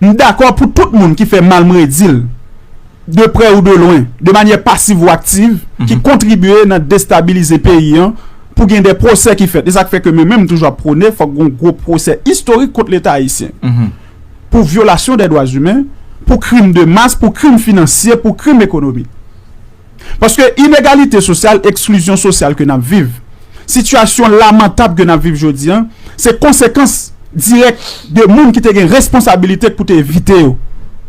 M dakò pou tout moun ki fè mal m redi l de prè ou de lwen, de manyè pasiv ou aktiv ki kontribye nan destabilize peyi an pou gen de pwosè ki fèt. E sa k fè ke men menm m toujou ap pwone fòk gon gwo pwosè istorik kont leta ayisyen pou vyolasyon dè dwazimen, pou krim de mas, pou krim finansye, pou krim ekonomik. Paske inegalite sosyal, eksklizyon sosyal ke n ap viv, sitiyasyon lamantab ke n ap viv jodi an, se konsekans dirèk de moun ki te gen responsabilite pou te evite yo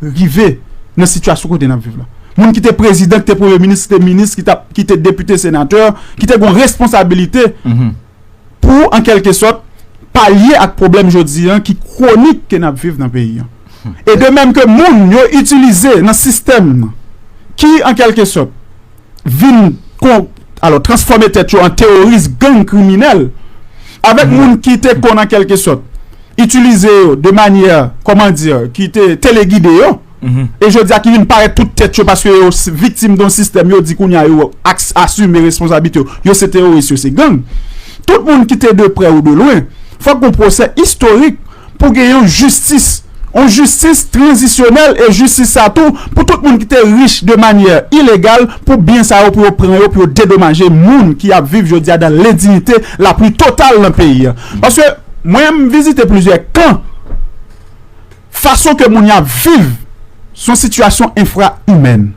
rive nan sitiyasyon kote n ap viv la. Moun ki te prezidan, ki te premye minis, ki te minis, ki te depite, senatè, ki te gen yon responsabilite pou an kelke sòt palye ak pwoblèm jodi an ki kwonik ke nap viv nan peyi an. E de mèm ke moun yo itilize nan sistèm nan ki an kelke sòt vin kon alò transfòme tèt yo an teworis gang kriminèl avèk moun ki te konn an kelke sòt itilize yo de manyè kòman di ki te telegide yo. e jodi a ki vin parèt tout tèt yo paske yo viktim don sistèm yo di kounye a yo asime responsablite yo, yo se teworis yo se gang tout moun ki te de prè ou de lwen fòk gon pwosè istorik pou gen yon jistis yon jistis tranzisyonèl e jistis sa tou pou tout moun ki te rich de manyè ilegal pou byen sa yo pou yo pran yo pou yo dedomaje moun ki ap viv jodi a dan lendignite lapli total nan peyi a paske mwen m vizite plizyè kan. Fason ke moun yo ap viv se yon sitiyasyon enfra imèn,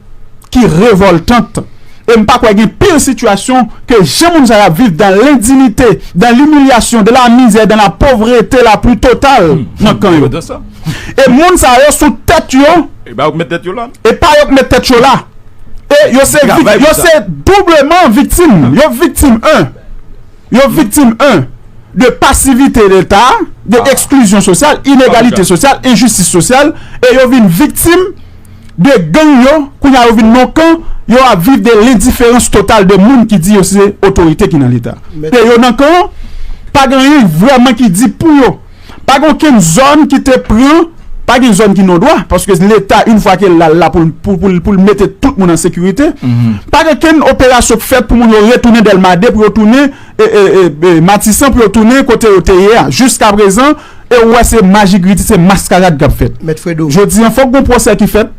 ki revòltant e m pa kwè gen pir sitiyasyon ke jan moun sa yo ap viv dan lendinite, dan limilyasyon, dan la mizè, dan la povrete la pli total nan kan yo. E moun sa yo sou tèt yo, e pa yo k met tèt yo la, e pa yo k met tèt yo la, e yo se doubleman viktim, yo viktim 1. Yo viktim 1. De pasivite Leta, de eksklizyon sosyal, inegalite sosyal, enjistis sosyal e yo vin viktim de gang yo kounye a yo vin non kan yo ap viv de lendiferans total de moun ki di yo se otorite ki nan Leta. E yo nan kan an, pa gen anyen vrèman ki di pou yo. Pa gen okenn zòn ki te pran, pa gen zòn ki nodwa, paske leta yn fwa kel la l la pou l mete tout moun an sekirite, pa gen okenn operasyon k fèt pou moun yo retounen dèlma 2 pou yo tounen matisan pou yo tounen kote yo te ye a jiskaprezan e ou wè se majigriti se maskarad kap fèt jodi an fòk gon pwosè ki fèt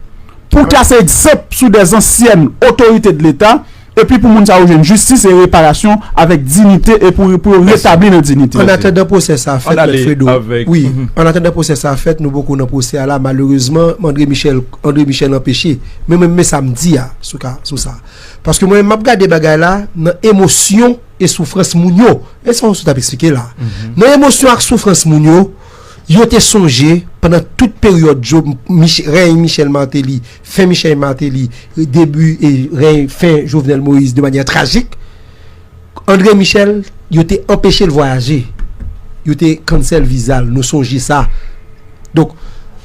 pou trase egzanp sou dè zansyèn otorite de leta. epi pou moun sa yo jwenn jistis e reparasyon avèk dinite e pou yo retabli nan dinite. Ann atandan pwosè sa a fèt, Mèt Fredo, wi, ann atandan pwosè sa a fèt, nou poko nan pwosè a la, malerezman, André Michel, André Michel anpeche, men mwen men sa m di a sou ka, sou sa. Paske mwen menm m ap gade bagay la nan emosyon e soufrans moun yo. Men sa Ossou t ap esplike la a. Nan emosyon ak soufrans moun yo, yo te sonje pandan tout peryòd Job, Mich, rèy Michel Martelly, Fen Michel Martelly, debi e reny fen Jovenel Moïse de manyè trajik. André Michel, yo te anpeche l vwayaje. Yo te cancel viza l, nou sonje sa. Donk,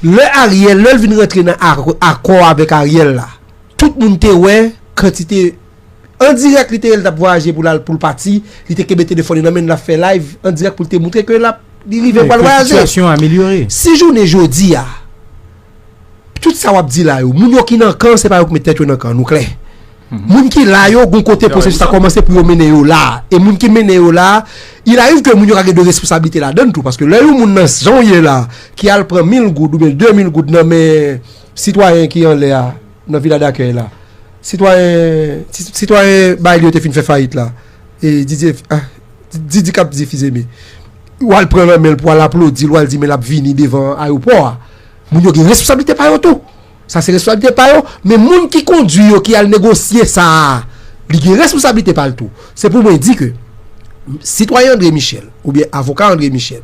lè Ariel, lè l vin rantre nan akò avèk Ariel la, tout moun te wè kantite an dirèk li te ye l t ap vwayaje pou l al pou l pati, li te kenbe telefòn li nan men l l ap fè live an dirèk pou l te montre ke l ap li rive pou l al vwayaje. Si jounen jodi a. Tout sa wap di la yo, moun yo ki nan kan se pa yo ki met tèt yo nan kan, nou klè. Moun ki la yo gon kote pwosesis la kòmanse pou yo mennen yo la, e moun ki mennen yo la, il ariv ke moun yo ka gen de resposablite ladann tou, paske lè yon moun nan jan w ye la, ki al pran mil goud oubyen de mil goud nan men sitwayen ki anlè a, nan vila dakèy la, sitwayen, sitwayen Bail yo te fin fè fayit la, e Didye, Didi kap di Fizeme. W al pran nan men l pou w al aplodi l, w al di men l ap vini devan ayewopò a. Moun yo gen responsablite pa yo tou. Sa se responsablite pa yo. Men moun ki kondui yo, ki al negosye sa a, li gen responsablite pa l tou. Se pou mwen di ke sitwayen André Michel oubyen avoka André Michel,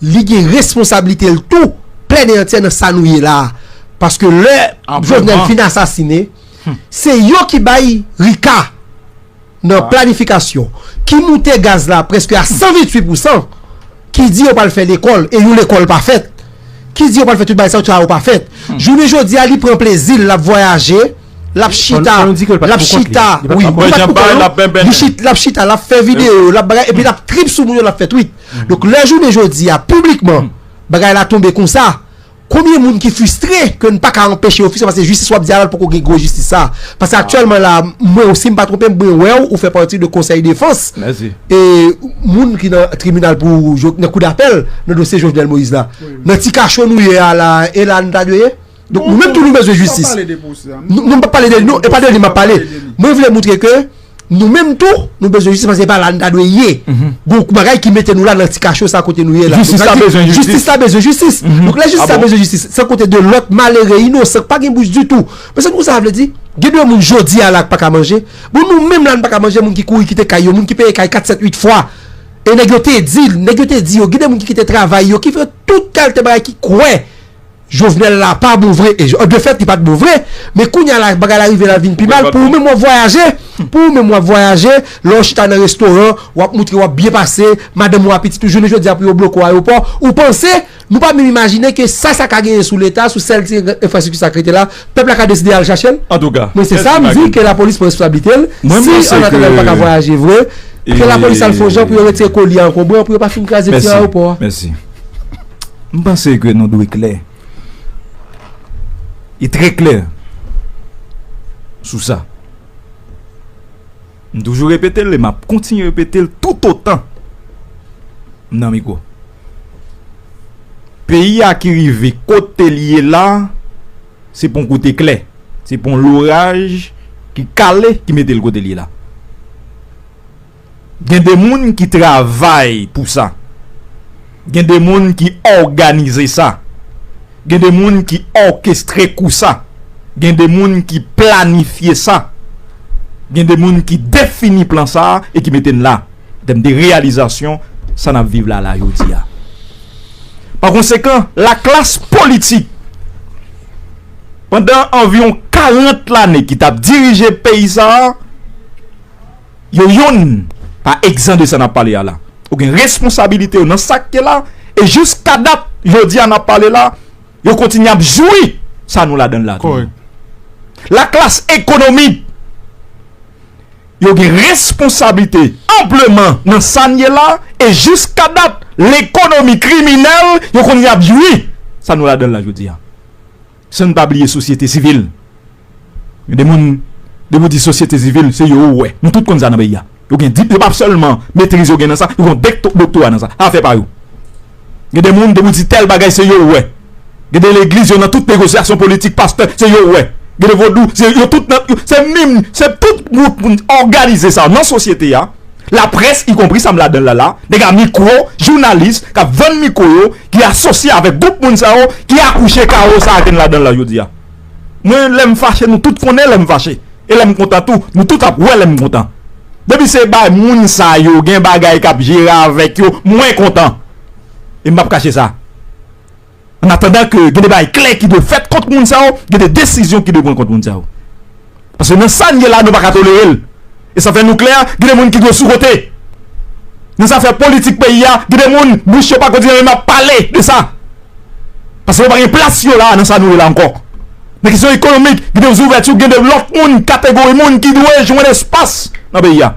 li gen responsablite l tou plèn e antyè nan sa nou ye la a. Paske lè Jovenel fin asasine, se yo ki bay Rica. nan planifikasyon ki moute gaz la prèske a 128 pousan, ki di yo pral fè lekòl e yon lekòl pa fèt, ki di yo pral fè tout bagay sa yo, tout sa yo pa fèt. Jounen jodi a li pran plezi l, l ap vwayaje, l ap chita, l ap chita, wi, li pa t pou kont li non, l ap chita, l ap fè videyo, l ap bagay epi l ap trip sou moun yo, l ap fè twit. Donk lè jounen jodi a piblikman bagay la tonbe konsa, Konbyen moun ki fustre ke n paka anpeche yo fustre paske jistis wap di a la poko gen gwo jistis sa a. Paske aktyèlman la a mwen ou si m pa twonpe m mwen wè w ou fè pati de konsèy defans e moun ki nan tribinal pou nan kou dapèl nan dosye Jovenel Moïse la. Nan ti kacho nou ye a la a e la a nou ta dwe ye? Donk nou menm tou nou bezwen jistis. Non m pap pale de li non e pa de li map pale. Mwen vle moutre ke. Nou menm tou, nou bezwen jistis paske se pa la nou ta dwe ye. Gon kou bagay ki mete nou la nan ti kacho sa kote nou ye la. Jistis la bezwen jistis. Jistis la bezwen jistis. Donk lè jistis la bezwen jistis, san konte de lòt malere, inosan, k pa gen bouch ditou. Mwen se konn sa sa vle di. Gen de moun jodi a la k pa ka manje. Bon nou menm la nou pa ka manje, moun ki kouri kite kay yo, moun ki peye kay 4, 7, 8 fwa. E nèg yo te di, nèg yo te di yo, gen de moun ki kite travay yo, ki fè tout kalte bagay ki kwè. Jovenel la pa bon vre e de fèt li pat bon vre men kounya la bagay la rive lap vin pi mal pou ou menm wap vwayaje pou ou menm wap vwayaje lè ou chita nan restoran wap moutre wap byen pase madanm ou a pitit ou jounen jodia pou yo bloke w ayopò ou panse nou pa menm imajine ke sa sa ka genyen sou leta sou sèl ti enfrastrikti sa k rete la pèp la ka deside al chache l mwen se sa m di ke lapolis pran responsablite l si annatandan l paka vwayaje vre ke lapolis al fon jan pou yo retire koli ankonbran pou yo pa fin kraze ti ayopò a. M panse ke nou dwe klè e trè klè sou sa. M toujou repete l e m ap kontinye repete l toutotan m nan mikwo. Peyi a ki rive kote li ye la, se pa yon kote klè. Se pa yon loraj ki kale ki mete l kote li ye la. Gen de moun ki travay pou sa. Gen de moun ki òganize sa. Gen de moun ki òkestre kou sa. Gen de moun ki planifye sa. Gen de moun ki defini plan sa a e ki mete n la an tèm de reyalizasyon sa n ap viv la la jodi a. Pa konsekan, laklas politik pandan anviwon 40 lane ki t ap dirije peyi sa a, Yo youn pa egzan de sa n ap pale a la. Yo gen responsabilite yo nan sa k te la e jiska dat jodi a n ap pale la, yo kontinye ap jwi sa nou ladan l la toujou. Laklas ekonomik yo gen responsabilite anpleman nan sa n ye la e jiska dat lekonomi kriminèl yo kontinye ap jwi sa nou ladan l la jodi a. San n pa bliye sosyete sivil. Gen de moun, depi w di sosyete sivil, se yo ou wè. Nou tout konn sa nan peyi a. Yo gen di, yo pa sèlman metriz yo gen nan sa, yo gen yon doktora nan sa. Afè pa yo. Gen de moun, depi w di tèl bagay, se yo ou wè. Gen de legliz, yo nan tout negosyasyon politik, pastè, se yo ou wè. Gen de vodou, se yo tout nan, se menm, se tout gwoup moun òganize sa nan sosyete a, laprès, ikonpri sa m ladan l la la, nèg a mikwo, jounalis, k ap vann mikwo yo, ki asosye avèk gwoup moun sa yo ki akouche kawo sa a ke n ladan l la jodi a. Mwen, lè m fache, nou tout konnen lè m fache. E lè m kontan tou, nou tout ap wè lè m kontan. Depi se bay moun sa yo gen bagay k ap jere avèk yo, mwen kontan. E m p ap kache sa. Annatandan ke gen de bagay klè ki dwe fèt kont moun sa yo, gen de desizyon ki dwe pran kont moun sa yo. Paske nan sa n ye la nou pa ka tolere l. E sa fè nou klè gen de moun ki dwe sou kote. Nan zafè politik peyi a gen de moun bouch yo pa kontinye menm ap pale de sa. Paske yo pa gen plas yo la nan sa nou ye la ankò. Nan kesyon ekonomik gen de zouvèti gen de lòt moun kategori moun ki dwe jwenn espas nan peyi a.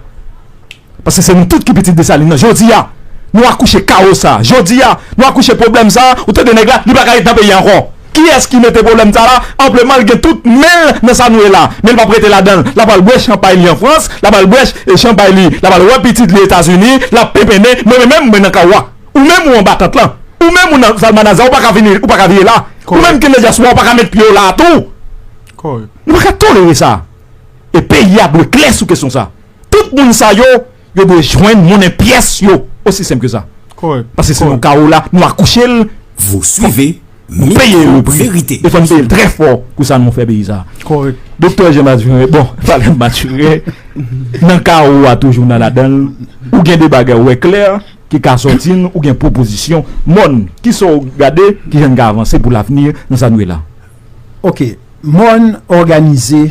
Paske se nou tout ki pitit Desalin nan jodi a nou akouche kawo sa a jodi a nou akouche pwoblèm sa a ou tande nèg la li pa ka ret nan peyi a ankò kiyès ki mete pwoblèm sa a la anpleman li gen tout men l nan sa nou ye la men li p ap rete ladan l l ap al bwè chanpay li an Frans l ap al bwè chanpay li l ap al wè pitit li Etazini l ap penpennen men mwen menm mwen nan kawo a ou menm ou anba tant lan ou menm ou nan salmanaza ou pa ka vini ou pa ka vire la ou menm ki nan dyaspowa ou pa ka met pye w la a tou nou pa ka tolere sa a e peyi a dwe klè sou kesyon sa a. Tout moun sa yo, yo dwe jwenn monnen pyès yo. Osi senp ke sa. Pase se yon kawo la, nou akouche l, fòk nou peye l prix. E fòk nou peye l trè fò pou sa nou fè peyi sa. Doktè Jean Mathurin, bon, pale m Mathurin, nan kawo a toujou nan ladan l, ou gen de bagay ou wè klè ki ka sòti n, ou gen pwopozisyon. Mòn, kisa w gade, kijan n ka avanse pou lavni nan sa nou ye la? Ok, mòn òganize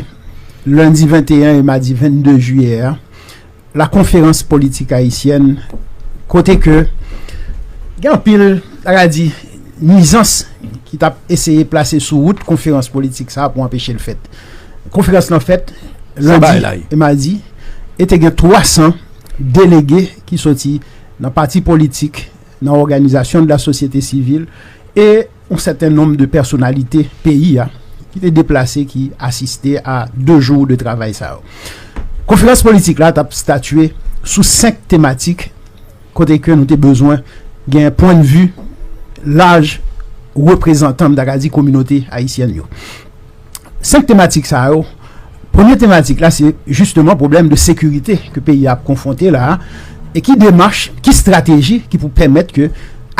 lendi 21 e madi 22 jiyè a la konferans politik ayisyèn kote ke gen anpil ta ka di nwizans ki tap eseye plase sou wout konferans politik sa pou anpeche l fèt. Konferans lan fèt lendi e madi e te gen 300 delege ki soti nan pati politik, nan òganizasyon de la sosyete sivil e Yon sèten nonm de pèsonalite peyi a ki te deplase ki asiste a 2 jou de travay sa yo. Konferans politik la t ap statye sou 5 tematik kote ke nou te bezwen gen pwennvi laj reprezantan, m ta ka di kominote ayisyèn yo. 5 tematik sa yo, premye tematik la se jisteman pwoblèm de sekirite ke peyi ap konfwonte la a, e ki demach, ki strateji ki pou pèmèt ke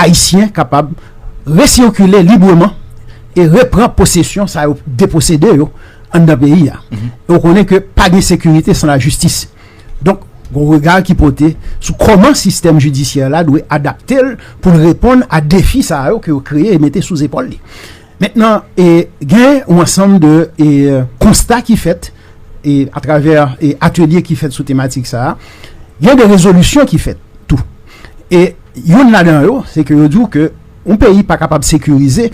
Ayisyen kapab resirkile libreman e repran posesyon sa yo deposede yo anndan peyi a. E ou konnen ke pa gen sekirite san lajistis. Donk, gon rega ki pote sou kòman sistèm jidisyè la dwe adapte l pou l reponn a defi sa yo ke yo kreye e mete sou zepòl li. Mentnan, gen yon ansanm de konsta ki fèt atravè atelye ki fèt sou tematik sa a. Gen de rezolisyon ki fèt tou. E youn ladan yo, se ke yo di w ke yon peyi pa kapab sekirize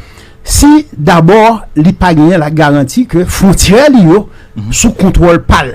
si dabò li pa genyen la garanti ke fwontyè li yo sou kontwòl pa l.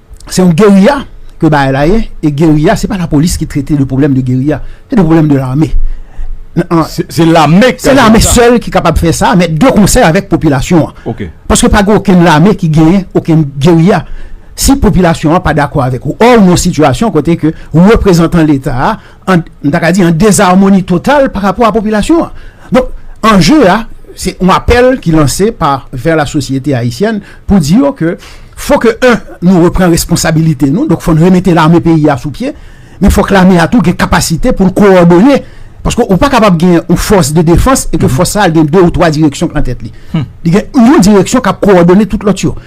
Se yon geriya ke bagay la ye, e geriya se pa la polis ki trete de pwoblèm de geriya, se de pwoblèm de lame. Se lame ki kapab fè sa. Se lame sèl ki kapab fè sa, men de konsèy avèk popilasyon an. Ok. Paske pa gen okenn lame ki genyen okenn geriya. Si popilasyon an pa dakò avèk ou, ò ou nan yon sitiyasyon kote ke reprezantan leta a, m ta ka di, an dezarmoni total pa rapò a popilasyon an. Donk, anje a, se yon apèl ki lanse pa vè la sosyete ayisyèn pou di yo ke fò ke 1 nou repran responsabilite nou, donk fò nou remete lame peyi a sou pye, men fò ke lame a tou gen kapasite pou l kowòdone, paske ou pa kapab gen yon fòs de defans e ke fòs sa a gen 2 ou 3 direksyon k lan tèt li. Li gen yon direksyon k ap kowòdone tout lòt yo.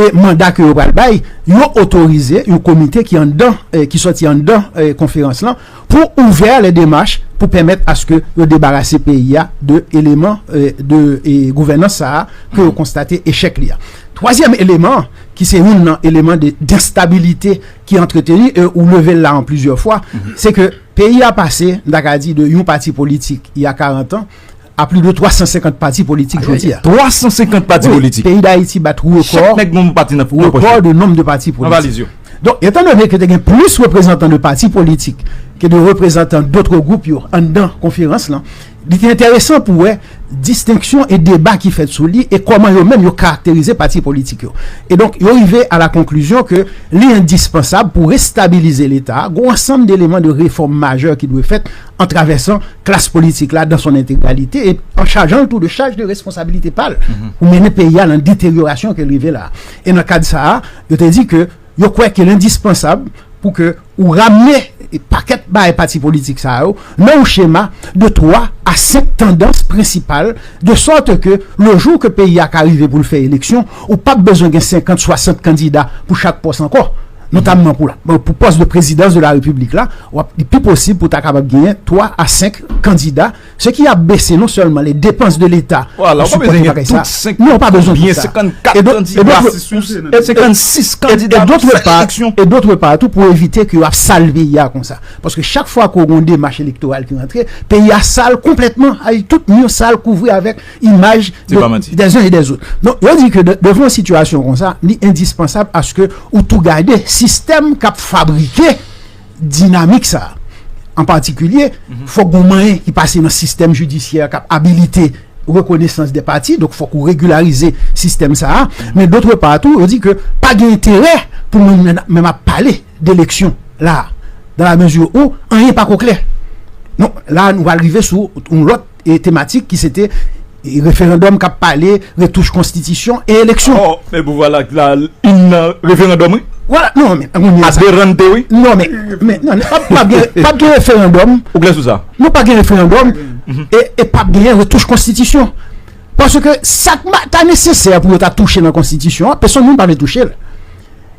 E manda ke yo pral bay, yo otorize yon komite ki anndan, ki sòti anndan konferans lan, pou ouvè lè demach pou pèmèt aske yo debarase peyi a de eleman de gouvènans sa a ke yo konstate echèk li a. Twazyèm eleman an, ki se youn nan eleman de denstabilite ki antreteni, e ou leve l la an plizyè fwa, se ke peyi a pase, m ta ka di de yon pati politik, ya karantan, a pli de 350 pati politik jodi a. 350 pati politik? Peyi Dayiti bat rekò. Chak nèg gen yon pati nan pòch yo. Rekò de nonm de pati politik. Nan valiz yo. Donk, etan done ke te gen plis reprezantan de pati politik ke de reprezantan dotre gwoup yo anndan konferans lan, li te enteresan pou wè distenksyon e deba ki fèt sou li e kòman yo menm yo karakterize pati politik yo. E donk, yo rive a la konklizyon ke li endispansab pou restabilize Leta a, gen yon ansanm deleman de refòm majè ki dwe fèt an travèsan klas politik la dan son entegralite e an chajan l tou de chaj de responsabilite pa l pou mennen peyi a nan deteryorasyon ke l rive la. E nan kad sa a, yo te di ke yo kwè ke l endispansab pou ke ou ramne pakèt bay pati politik sa yo nan yon chema de 3 a 5 tandans prensipal de sòte ke le jou ke peyi a ka rive pou l fè eleksyon, ou p ap bezwen gen 50, 60 kandida pou chak pòs ankò. Notamman pou pòs de prezidans de la repiblik la, li pi posib pou ta kapab genyen 3 a 5 kandida, se ki ap bese non sèlman le depans de leta. Ou pa bezwen genyen tout 5 kandida. Non, ou pa bezwen tout sa. E dotre pa, e dotre pa tou pou evite ki yo ap sal peyi a konsa. Paske chak fwa ki yo gen yon demach elektoral ki rantre, peyi a sal konpletman, tout moun sal kouvri avèk imaj des uns et des autres. Non, yo di ke devan yon sitiyasyon kon sa, li endispansab aske ou tou gade sistèm kap fabrike dinamik sa. An patikilye, mhm. fok gon manyen ki pase nan sistèm jidisyè kap abilite rekonesans de pati, dok fok ou regularize sistèm sa. Men dotre patou, yo di ke pa gen enterè pou moun menm ap pale. de leksyon la a dan la mezi ou anyen pa ko klè non la a nou pral rive sou yon lòt e tematik ki se te referandòm kap pale retouch konstitisyon e eleksyon ò men pou vwa la ak la yn nan referandòm wi wè la non men anmweyy a derante wi non men men nan nan pap pap gen pap gen referandòm ou klè sou sa non pa gen referandòm e e pap genyen retouch konstitisyon paske sak ma ta nesesè pou yo ta touche nan konstitisyon an pesonn moun pa vle touche l.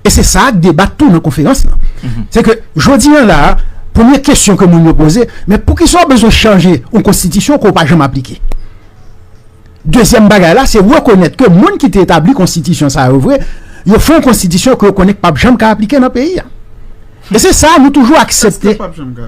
E se sa ak debat tou nan konferans lan. Se ke jodi an la a, premye kesyon ke moun yo poze, men poukisa ou bezwen chanje yon konstitisyon ke ou pa janm aplike? Dezyèm bagay la, se rekonèt ke moun ki te etabli konstitisyon sa yo vre, yo fè yon konstitisyon ke yo konnen k pap janm ka aplike nan peyi a. Men se sa nou toujou aksepte.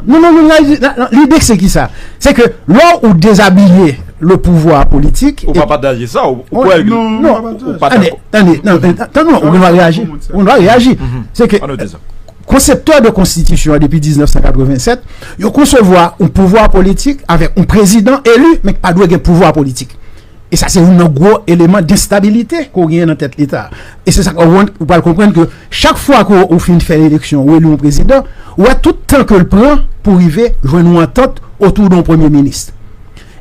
Non, non, non, lide se ki sa? Se ke lò ou dezabiye le pouvwa politik. Ou pa pataje sa? Ou kwè ke. Non, non, non, non, non. Tande, tande, tande, tande, non, ou gen dwa reyaji. Ou gen dwa reyaji. Se ke konseptè de konstitisyon an depi 1987, yo konsevwa yon pouvwa politik avèk yon prezidan elu men ki pa dwe gen pouvwa politik. E sa se youn nan gwo eleman destabilite ke w genyen nan tèt Leta a. E se sa k wont ou pral konprann ke chak fwa ke ou fin fè eleksyon, ou eli yon prezidan, ou wè tout tan ke l pran pou rive jwenn yon antant otou de yon premye minis.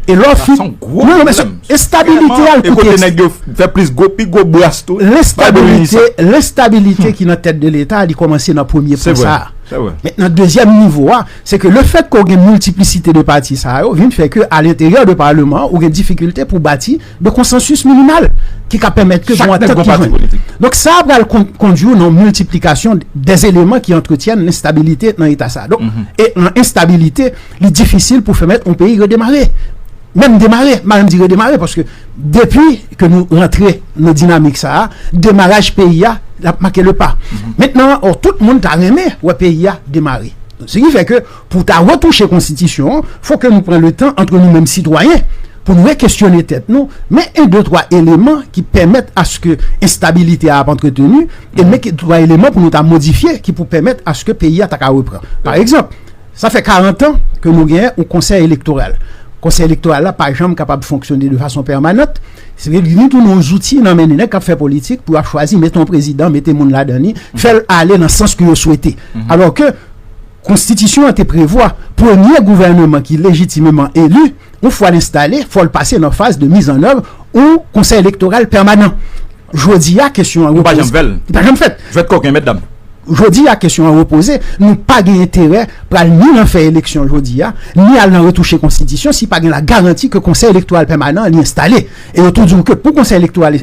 E lè w fin. Non, non, mesye, estabilite a l koute. E kote nèg yo fè plis gwo, pi gwo bras tou. Lestabilite, lestabilite ki nan tèt de Leta a li kòmanse nan premye pwen sa a. Se vre, se vre. Men nan dezyèm nivo a. Se ke le fèt ke w gen miltiplisite de pati sa yo vin fè ke alenteryè de paleman an ou gen difikilte pou w bati de konsansis minimal ki ka pèmèt ke gen yon antant ki jwenn. Donk sa pral kondui w nan yon miltiplikasyon de eleman ki antretyèn lenstabilite nan eta sa. Donk e nan enstabilite li difisil pou fèmèt yon peyi redemare. Menm demare, m pa menm di redemare paske depi. ke nou rantre nan dinamik sa a, demaraj peyi a ap make le pa. Mentnan, ò, tout moun ta renmen wè peyi a demare. Se ki fè ke pou ta retouche konstitisyon an, fò ke nou pran le tan antre nou menm sitwayen, pou nou rekesyone tèt nou, men en de twa eleman ki pèmèt aske enstabilite a ap antreteni, e men ke twa eleman pou nou ta modifye ki pou pèmèt aske peyi a ta ka repran. Parekzanp, Sa fè 40 an ke nou gen yon konsèy elektoral. Konsèy elektoral la pa janm kapab fonksyone de fason pèmanant. Se vle di li tounen yon zouti nan men de nèg k ap fè politik pou yo ap chwazi mete yon prezidan, mete moun ladan li, fè l ale nan sans ke yo swete. Alò ke konstitisyon an te prevwa premye gouvèneman ki lejitimeman eli, Yon fwa l enstale, fò l pase nan faz de mizannèv yon Konsèy Elektoral Pèmanan. Jodi a, kesyon an repoze. Li pa janm fèt. Jwèt kòken, mètdam. Jodi a, kesyon an repoze. Nou pa gen enterè pral ni nan fè eleksyon jodi a, ni al nan retouche Konstitisyon si pa gen lagaranti ke Konsèy Elektoral Pèmanan an li enstale. E yo tou di w ke pou Konsèy Elektoral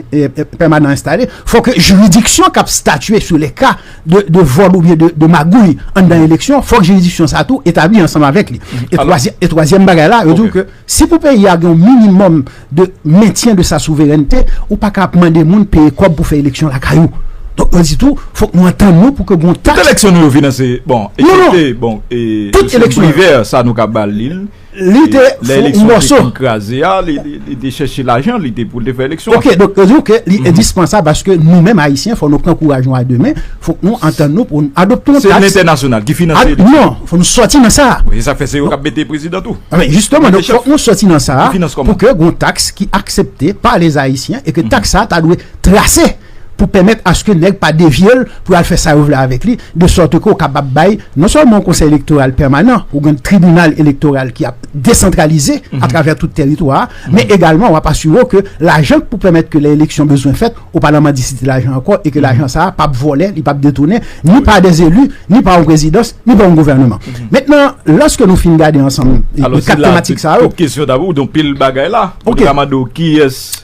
Pèmanan an enstale, fò ke jiridiksyon k ap statye sou lè ka de vòl oubyen de magouy anndan eleksyon, fòk jiridiksyon sa tou etabli ansanm avèk li. E twazyèm bagay la, yo di w ke si pou peyi a gen yon minimòm de mentyen de sa souverènte, ou pa ka ap mande moun peye kòb pou fè eleksyon lakay ou. Donk yo di tou, fòk nou antann nou pou ke gon taks. Tout eleksyon nou yo finanse, bon, ekzepte, bon, e M. Privert sa nou ka ba li l. Li te fon yon mòso. Lè eleksyon te fin kraze a, li te chèche lajan, li te pou l te fè eleksyon. Ok, donk yo di w ke li endispansab paske nou menm Ayisyen fò nou pran kouraj nou a de men, fòk nou antann nou pou nou adopte yon taks. Se lentènasyonal ki finanse eleksyon. Non, fò nou sòti nan sa a. E sa k fè se yo k ap mete prezidan tou. Men jisteman, donk fòk nou sòti nan sa a pou ke gen yon taks ki aksepte pa lèzayisyen e ke taks sa a ta dwe trase. pou pèmèt aske nèg pa devye l pou y al fè sa yo vle avèk li, de sòte ke ou kapab bay non sèlman yon Konsèy Elektoral pèmanan, ou gen Tribinal Elektoral ki ap desantralize atravè tout tèritwa a, men egalman w ap asire w ke lajan k pou pèmèt ke lè eleksyon bezwen fèt, ou pa nan mandisite lajan ankò e ke lajan sa a pa p vòlè, li pa p detounen, ni pa dè zeli, ni pa yon prezidans, ni pa yon gouvèneman. Mentnan, lòske nou fin gade ansanm 4 tematik sa yo. Alò se la tout kesyon ta pou, donk pil bagay la, ou te ka mande w kiyès.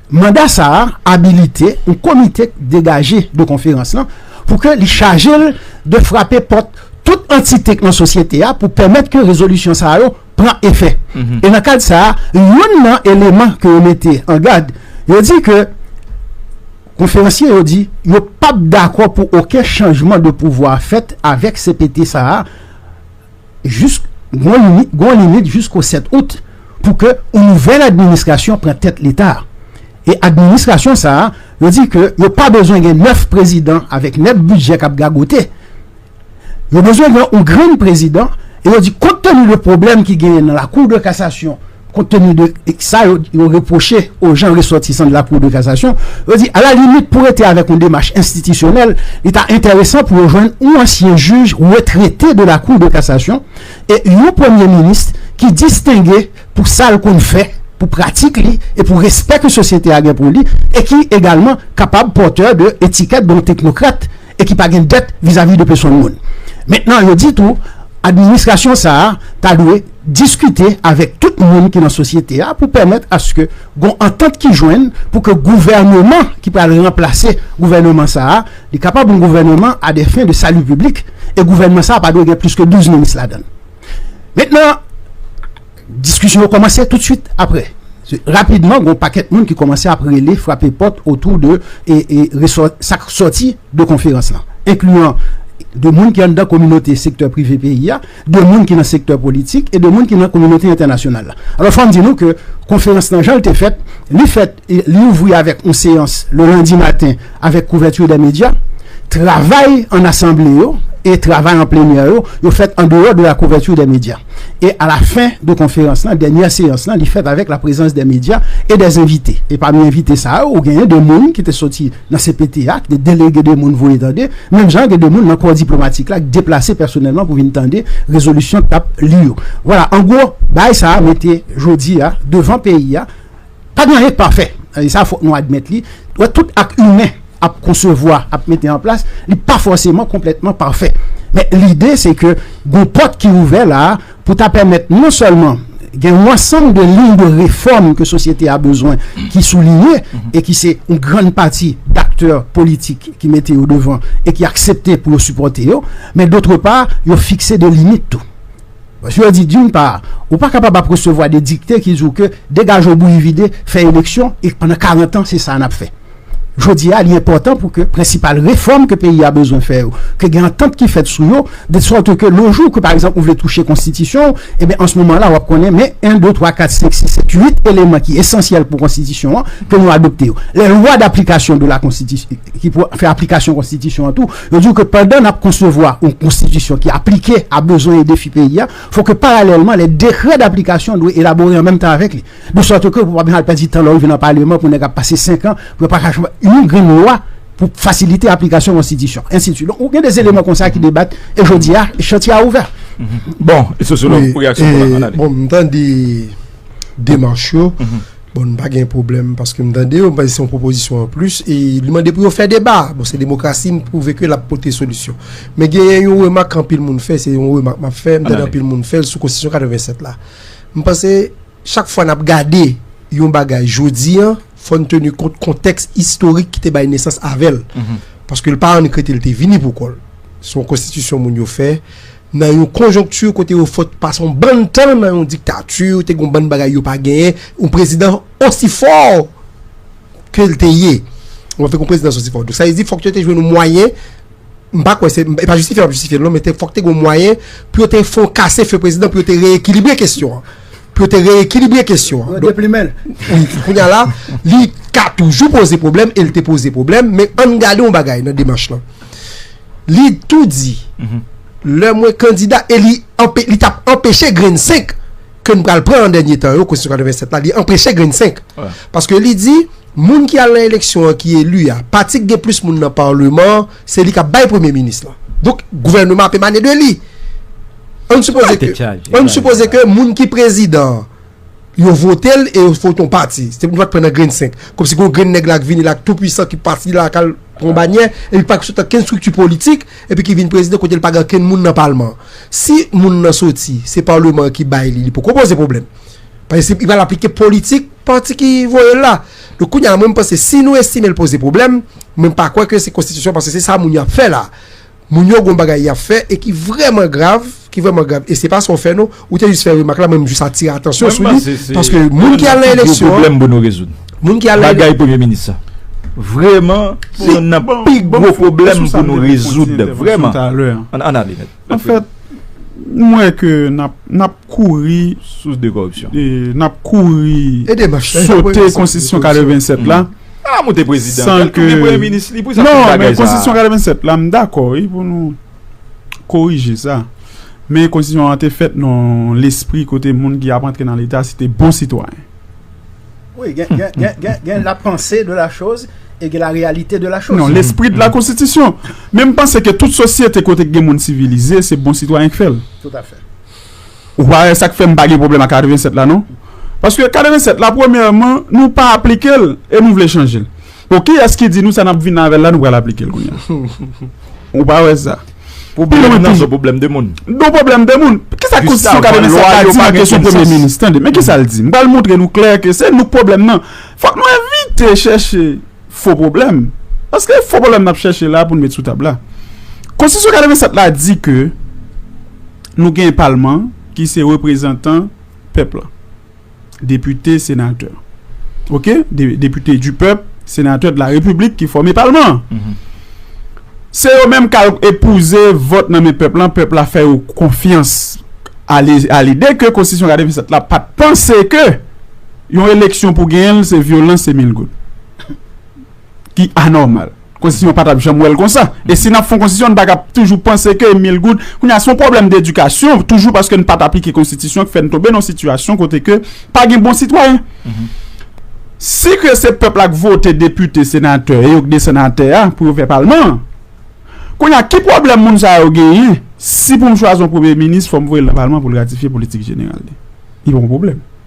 Manda sa a abilite yon komite k degaje de konferans lan pou ke li chaje l de frape pòt tout antite k nan sosyete a pou pèmèt ke rezolisyon sa yo pran efè. E nan kad sa a, youn nan eleman ke yo mete an gad, yo di ke, konferansye yo di, yo p ap dakò pou oken chanjman de pouvwa fèt avèk cpt sa a, jis gon limit jisko 7 out pou ke yon nouvèl administrasyon pran tèt leta a. E administrasyon sa a, yo di ke yo pa bezwen gen 9 prezidan avèk 9 bidjè k ap gagote. Yo bezwen gen yon grenn prezidan e yo di kont tenu de pwoblèm ki genyen nan lakou de kasasyon, Kont tenu de sa yo repwoche o jan resòtisan de la Cour de Cassation, yo di a la limit pou rete avèk yon demach enstitisyonèl, li ta entèresan pou yo jwenn yon ansyen jij retrete de la Cour de Cassation e yon premye minis ki distenge pou sa l konn fè, pou pratik li e pou respè ke sosyete a gen pou li e ki egalman kapab pòtè de etikèt de yon teknokrat e ki pa gen dèt vizavi de pesonn moun. Mentnan yo di tou administrasyon sa a ta dwe. diskite avèk tout moun ki nan sosyete a pou pèmèt aske gon antant ki jwenn pou ke gouvèneman ki pral ranplase gouvèneman sa a, li kapab yon gouvèneman a dè fen de sali piblik e gouvèneman sa a pa dwe gen plis ke 12 minis ladan l. Mentnan, diskisyon yo kòmanse tout swit apre. Rapidman, gon pakèt moun ki kòmanse ap rele, frape pòt otou de resò sa k sòti de konferans lan, enkliyan de moun ki anndan kominote sektè prive peyi a, de moun ki nan sektè politik e de moun ki nan kominote entènasyonal la. Alò fò m di nou ke konferans lan jan l te fèt, li fèt, li ouvri avèk yon seyans le lendi maten avèk kouverture des médias. Travay an asanble yo e travay an plenyè yo, yo fèt an deyò de la couverture des médias. E a la fen de konferans lan, dènyè seyans lan, li fèt avèk la prezans des médias e des invités. E pami envite sa yo, ou genyen de moun ki te soti. Nan cpt a, gen delege de moun voye tande, menm jan gen de moun nan kò diplomatik la ki deplase pèsonèlman pou vin tande rezolisyon k ap li yo. Vwala, an gwo, bagay sa a mete jodi a devan peyi a, pa gen anyen k pafè. E sa fòk nou admèt li. Wè, tout ak imen ap konsevwa, ap mete an plas, li pa fòseman konplètman pafè. Men lide se ke gen yon pòt ki ouvè la a, pou ta pèmèt non sèlman gen yon ansanm de liy de refòm ke sosyete a bezwen ki souliye e ki se yon grann pati daktè politik ki mete yo devan e ki aksepte pou yo sipòte yo, men dotre pa, yo fikse de limit tou. Paske yo di, doun pa, ou pa kapab ap resevwa de dikte ki di w ke degaje w bouyi vide, fè eleksyon e pandan karantan se sa a n ap fè. Jodi a, li enpòtan pou ke prensipal refòm ke peyi a bezwen fè yo, ke gen antant ki fèt sou yo, de sòt ke le jou ke pa egzanp ou vle touche konstitisyon ou, e ben an se moman la w ap konnen men 1, 2, 3, 4, 5, 6, 7, 8 eleman ki esansyèl pou konstitisyon an ke nou adopte yo. Les lois d'application de la Constitution, ki pou fè aplikasyon konstitisyon an tou, yo di w ke pandan n ap konsevwa yon konstitisyon ki aplike a bezwen e defi peyi a, fò ke paralèlman les décrets d'application dwe elabore an menm tan avèk li. De sòt ke ou pa bezwen al pèdi tan lè ou rive nan paleman pou nèg ap pase 5 an pou yo pa ka chanje yon grenn lwa pou fasilite aplikasyon konstitisyon, ensitiswit. Donk ou gen de eleman konsa ki debat e jodi a chantye a ouvè. Bon, e sosyològ pou reyaksyon pou la an ale. Bon, m tande demach yo. Bon, m pa gen pwoblèm paske m tande yo, m panse se yon pwopozisyon an plis e li mande pou yo fè deba. Bon, se demokrasi m pwouve ke l ap pote solisyon. Men genyen yon remak anpil moun fè, se yon remak m ap fè, m tande anpil moun fè l sou konstitisyon 87 la. M panse chak fwa n ap gade yon bagay jodi an, fò n teni kont kontèks istorik ki te bay nesans avè l. Paske l pa annik rete, l te vini pou kò l. Se yon konstitisyon moun yo fè nan yon konjonkti kote yo fèt pase yon bann tan nan yon diktati, te gen yon bann bagay yo pa genyen. Yon prezidan osi fò ke l te ye, w ap fè k yon prezidans osi fò. Donk sa vle di fòk yo te jwenn yon mwayen m pa kwè se, e pa jistifye m ap jistifye l non, men te fòk te gen yon mwayen pou yo te fè yon kase fè prezidan pou yo te reyekilibre kesyon an. Pou yo te reyekilibre kesyon an. Yo deplimen l. Wi, kounye a la, li ka toujou poze pwoblèm e l te poze pwoblèm, men an n gade yon bagay nan demach lan. Li tou di, lè mwen kandida e li anpe, li t ap anpeche grenn 5 ke n pral pran an dènye tan yo, konstitisyon 87 la, li anpeche grenn 5. Paske li di. Moun ki al nan eleksyon an ki eli a, pati ki gen plis moun nan Parleman an, se li k ap bay Premye Minis lan. Donk, gouvèneman ap emane de li. Ann sipoze ke, ann sipoze ke moun ki prezidan an, yo vote l e yo vote yon pati. Se pou nou pa t pran nan grenn senk. Kòmsi gen yon grenn nèg la k vini la, k tou pwisan, ki pati la, k al pran yon banyè, epi ki pa gen ankenn estrikti politik, epi ki vin prezidan kote l pa gen ankenn moun nan Palman an. Si moun nan soti, se Parleman an ki bay li, li poko poze pwoblèm. Paske li pral aplike politik pati ki voye l la. Donk kounye a mwen m panse si nou estime l poze pwoblèm, mwen m pa kwè ke se konstitisyon paske se sa moun yo ap fè la. Moun yo gen yon bagay y ap fè e ki vrèman grav, ki vrèman grav e se pa sa w fè non. Ou te jis fè remak la mwen m jis atire atansyon sou li paske moun ki al nan eleksyon an, moun ki al nan eleksyon an. Vrèman se youn nan pi gwo pwoblèm pou nou rezoud. Vrèman. An ale. An fèt, m wè ke n ap kouri. Sous de koripsyon. E n ap kouri. E de manch. Sote konstitisyon 87 la. A moute prezidan. San ke. San ke premye minis li. Non, men konstitisyon 87 la m dakò wi pou nou korije sa. Men konstitisyon an te fèt nan lespri kote moun ki ap antre nan leta se te bon sitwayen. Wi, gen la panse de la choz e gen la reyalite de la choz. Non, lespri de la konstitisyon. Men m panse ke tout sosyete kote gen moun sivilize, se bon sitwayen k fè l. Tout afè. Ou pa wè sa k fè m pa gen pwoblèm ak 87 la non. Paske 87 la premyèman nou pa aplike l e nou vle chanje l. Bon kiyès ki di nou sa nap vin avèl la nou pral aplikel kounya ou pa wè sa. Pwoblèm nan son pwoblèm de moun. Don pwoblèm de moun. Kisa konstitisyon 87 la di nan kesyon premye minis? Tande men kisa l di. M pral montre nou klè ke se nou k pwoblèm nan. Fòk nou evite chèche fo pwoblèm. Paske e fo pwoblèm n ap chèche la pou n met sou tab la. Konstitisyon 87 la di ke nou gen palman ki se reprezantan pèp la. Depite, senatè. Ok? Depite du pèp, senatè de la repiblik ki fòme palman an. Se yo menm k al epouze vòt nan men pèp lan, pèp la fè yo konfyans a lide ke konstitisyon 87 la pa t panse ke yon eleksyon pou genyen l se vyolans, se mil goud ki anòmal. Konstitisyon pa tap janm wèl konsa. E si nap fon konstitisyon n pa ka toujou panse ke mil goud, kounye a son pwoblèm dedikasyon toujou paske n pat aplike konstitisyon k fè n tonbe nan sitiyasyon kote ke pa gen bon sitwayen. Si ke se pèp la k vote depite, senatè e yo k desann atè a pou yo fè palman an, kounye a ki pwoblèm moun sa yo genyen si pou m chwazi yon premye minis fò m voye l nan palman pou l ratifye politik jeneral li? Li pa yon pwoblèm.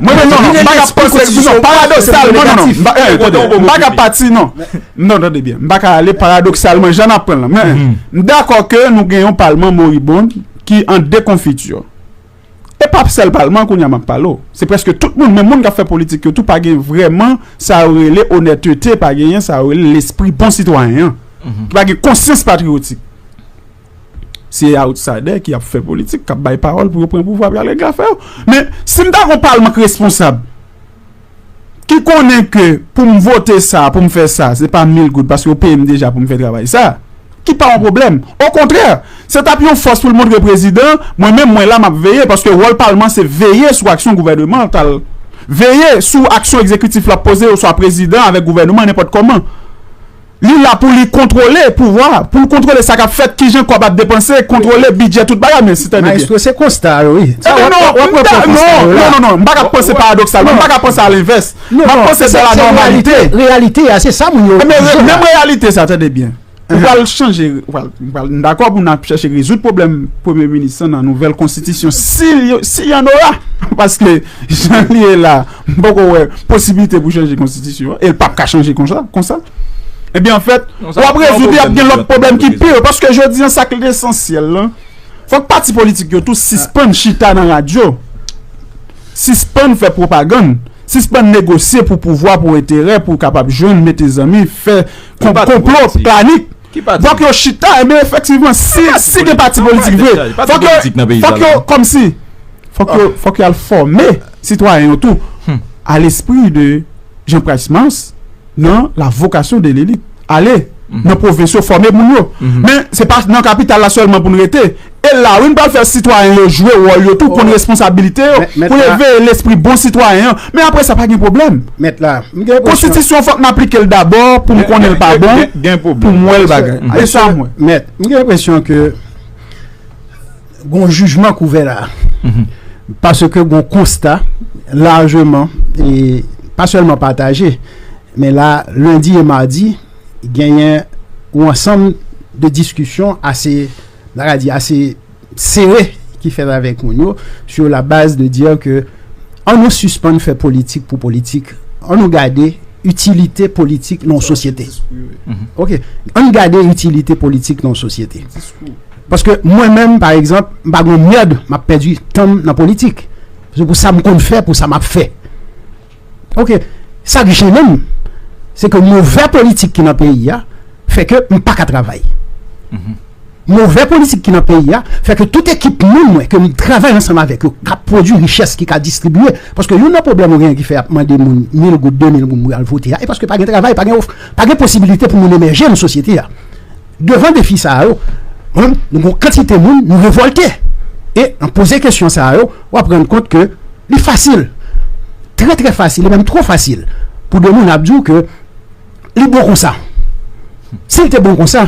Mwen menm non non m paka panse sou non paradoksalman non non m pa eh tande m paka pati non non tande byen m paka ale paradoksalman jan n ap pran l lan men m dakò ke nou gen yon palman moribond ki an dekonfiti e pa sèl palman an kounye a m ap pale w se prèske tout moun menm moun k ap fè politik yo tou pa gen vrèman sa yo rele onètete pa genyen sa yo rele lespri bon sitwayen an ki pa gen konsyans patriyotik Se outsider ki ap fè politik, kap bay pawòl pou yo pran pouvwa pou yo ale grafe yo. Men, si m ta gon palman k responsab, ki konnen ke pou m vote sa, pou m fè sa, se pa mil goud, paske yo peye m deja pou m fè travay sa, ki pa yon pwoblèm. Okontrè, se t ap yon fòs pou l montre prezidan, mwen menm mwen la m ap veye, paske wòl palman se veye sou aksyon gouvènemantal, veye sou aksyon ekzekitif la poze oswa prezidan avèk gouvèneman nenpòt kòman. Li la pou li kontwole pouvwa, pou l kontwole sa k ap fèt, kijan kòb ap depanse, kontwole bidjè tout bagay men si tande byen. Maestro se konsta a yo wi. Sa w ap pran pou konsta yo la. Non, non, non, non, m pa ka panse paradoksalman, m pa ka panse a lenvès. M ap panse dè la nòmalite. Se reyalite a, se sa moun yo. Men menm reyalite sa, tande byen, ou pral chanje, ou pral, m pral, m dakò pou n ap chèche rezoud pwoblèm premye minis lan nan nouvèl konstitisyon si l yo, si y an ora. Paske jan li ye la. M poko wè posibilite pou chanje konstitisyon an e l pap ka chanje konsa. Ebyen anfèt w ap rezoud li ap gen lòt pwoblèm ki pi yo paske jodi an sa k lesansyèl lan fòk pati politik yo tou sispann chita nan radyo, sispann fè pwopagann, sispann negosye pou pouvwa, pou enterè, pou kapab jwenn, mete zanmi, fè konplo, planik. Fòk yo chita enben efektivman si gen pati politik vre fòk yo kòmsi fòk yo al fòme sitwayen yo tou a lespri de Jean Price Mars nan la vokasyon de lelit ale nan pwovens yo fòme moun yo men se pa nan kapital la sèlman pou n rete. E la wi n pral fè sitwayen yo jwe wòl yo tou, konn responsabilite yo, pou yo veye lespri bon sitwayen an. Men apre sa pa gen pwoblèm. Konstitisyon fòk m aplike l dabò pou m konnen l pa bon, pou m wè l bagay. E sa m wè. Mèt, m gen enpresyon ke gon jijman k ouvè la. Paske gon konsta lajeman, e pa sèlman pataje, men la lendi e madi genyen yon ansanm de diskisyon ase. Maradi a se sere ki fèt avèk moun yo sur la baz de dire ke an nou sispann fè politik pou politik, an nou gade itilite politik nan yon sosyete. Ok, an nou gade itilite politik nan yon sosyete. Paske mwen menm pa egzanp, m pa gen yon mèrd m ap pèdi tan m nan politik. Se pou sa m konn fè, pou sa m ap fè. Ok, sa k jennen m, se ke movè politik ki nan peyi a, fè ke m pa ka travay. Movè politik ki nan peyi a, fè ke tout ekip moun mwen, ke m travay ansanm avèk yo, ka pwodui richès ki ka distribye. Paske youn nan pwoblèm ou genyen ki fè y ap mande moun mil goud, de mil goum pou y al vote a, e paske pa gen travay, pa gen posibilite pou moun emèje nan sosyete a. Devan defi sa yo, mwen menm nou gen yon kantite moun nou revòlte. E nan poze kesyon sa yo, w ap rann kont ke li fasil, trè trè fasil e menm twò fasil pou de moun ap di w ke li bon konsa. Si l te bon konsa,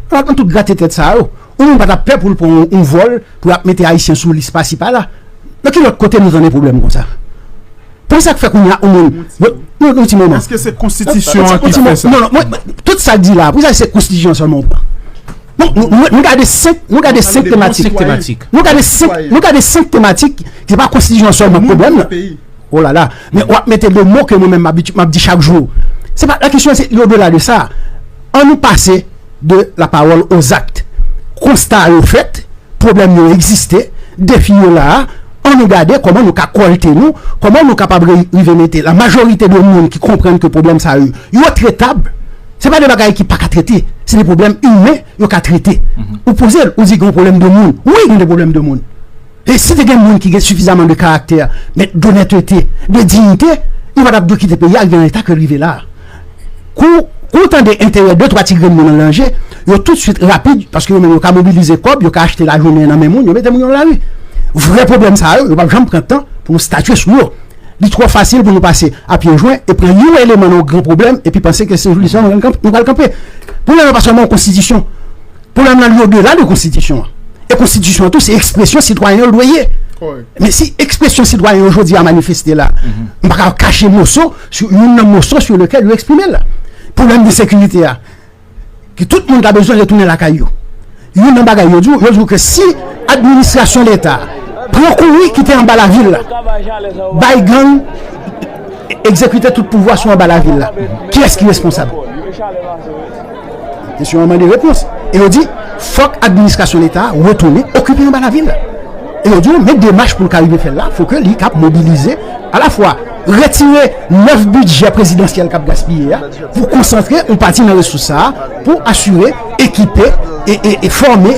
alò nan tout grate tèt sa yo, yon moun pa t ap pè pou l pran yon vòl pou y ap mete Ayisyen sou lis pasi pala. Nan ki lòt kote nou tande pwoblèm konsa? Pou sa k fè kounya yon moun. Yon ti moman. Eske se konstitisyon an ki fè sa? Non, non, tout sa l di la, pou sa se konstitisyon an sèlman ou pran? Nou gade 5, nou gade 5 tematik. Nou gade 5, nou gade 5 tematik, se pa konstitisyon an sèlman pwoblèm nan. O la la, men wap mete de mo ke mwen menm map di chak jou. Se pa, la kesyon se yo de la de sa. An nou pase de la pawòl o zakt. Konsta yo fèt, pwoblèm yo egziste, defi yo la a. An nou gade kòman nou ka kòlte nou, kòman nou kapab rive mete la majorite de moun ki konprann ke pwoblèm sa yo, yo tretab. Se pa de bagay ki pa ka trete. Se de pwoblèm imen yo ka trete. Ou poze l, ou di gen yon pwoblèm de moun. Wi gen de pwoblèm de moun. E si te gen moun ki gen sifizaman de karaktè, men donètete, de diyite, yo pa t ap dwe kite peyi a rive nan eta ke l rive la a. Kou ou tande enterè de twa ti grenn moun an danje, yo tout swit rapid, paske yo menm yo ka mobilize kòb, yo ka achte lajounen nan men moun, yo mete moun yo nan lari. Vrè pwoblèm sa yo, yo pap janm pran tan pou nou statye sou yo. Li twò fasil pou nou pase a pye jwen e pran yon eleman nan yon gran pwoblèm epi panse ke se jou li sèlman nou pral kanpe. Pwoblèm nan pa sèlman yon konstitisyon. Pwoblèm lan li odela de konstitisyon an. E konstitisyon an tou se ekspresyon sitwayen yo l dwe ye. Men si ekspresyon sitwayen yo jodi a manifeste la, m pa ka kache moso, youn nan moso sou lekèl yo eksprime la. Pwoblèm de sekirite a, ke tout moun ta bezwen retounen lakay yo. Youn nan bagay yo di w, yo di w ke si administrasyon leta pran kouri kite anba lavil la, bay gang egzekite tout pouvwa sou anba lavil la, kiyès ki responsab? Kesyon an mande repons. E yo di, fòk administrasyon leta a retounen okipe anba lavil. E yo di yo, men demach pou l ka rive fè l la, fò ke li kab mobilize alafwa retire 9 bidjè prezidansyèl kap gaspiye a pou konsantre yon pati nan resous sa a pou asire, ekipe e fòme.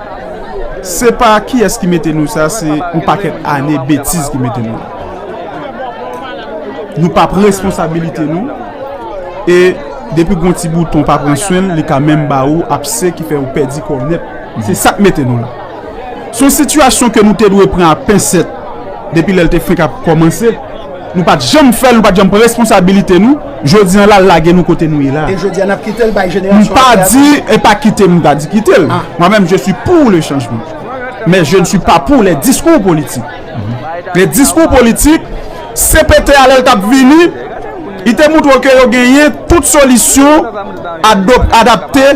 Se pa kiyès ki mete nou sa se yon pakèt ane betiz ki mete nou la. Nou pa pran responsabilite nou e depi gon ti bouton pa pran swen l li ka menm ba ou apse ki fè ou pèdi kò w nèt. Se sa k mete nou la. Se yon sitiyasyon ke nou te dwe pran a pensèt depi lè l te fenk ap kòmanse. Nou pat janm fèl nou pat janm pran responsabilite nou jodi an la lage nou kote nou ye la. E jodi a nap kitel bay jenerasyon aprè a tou. Mpa di epa kitem mta di kitel mwen menm je suis pour le changement men je ne suis pas pour les discours politique les discours politique CPT a lèl tap vini li te moutre w ke yo genyen tout solisyon adapte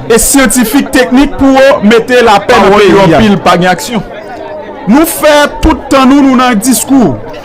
e syantifik teknik pou yo mete lapè nan peyi a. Pawòl yo anpil pa gen aksyon. Nou fè tout tan nou nou nan discours.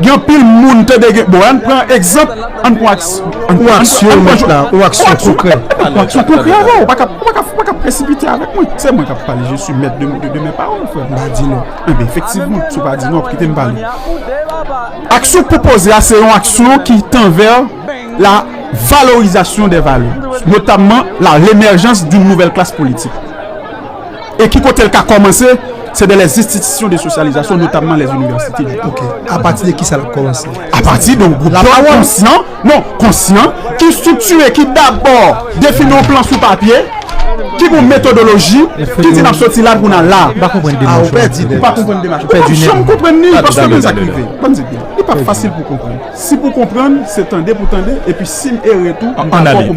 Gen anpil moun tande gen bon ann pran egzanp ann pran aksyon mèt la ou aksyon konkrè ou aksyon konkrè avè ou paka ou paka presipite avèk mwen se mwen kap pale je si mèt de mè pawòl frè m pa di non enben efektivman si w pa di non kite m pale aksyon k pwopoze a se yon aksyon ki tan vè la valorizasyon de valè notamman la remèjans doun nouvèl klas politik. E ki kote l ka kòmanse? Se de lè zinstitisyon de sosyalizasyon, notamman lè inivèsite di. Ok. Apati de ki sa l ap kòmanse? Apati de yon gwoup jèn konsyan, non, konsyan, ki estriktire, ki dabò defini yon plan sou papye, ki gen yon metodoloji, ki di n ap soti la pou n al la. M pa konprann demach ou. A, ou pèdi demach. Ou pa konprann demach. Ou pa janm konprann ni, paske men sa k rive. Banm di w byen, li pa fasil pou w konprann. Si pou w konprann, se tande pou w tande, epi si m ere tou, m dakò pou m.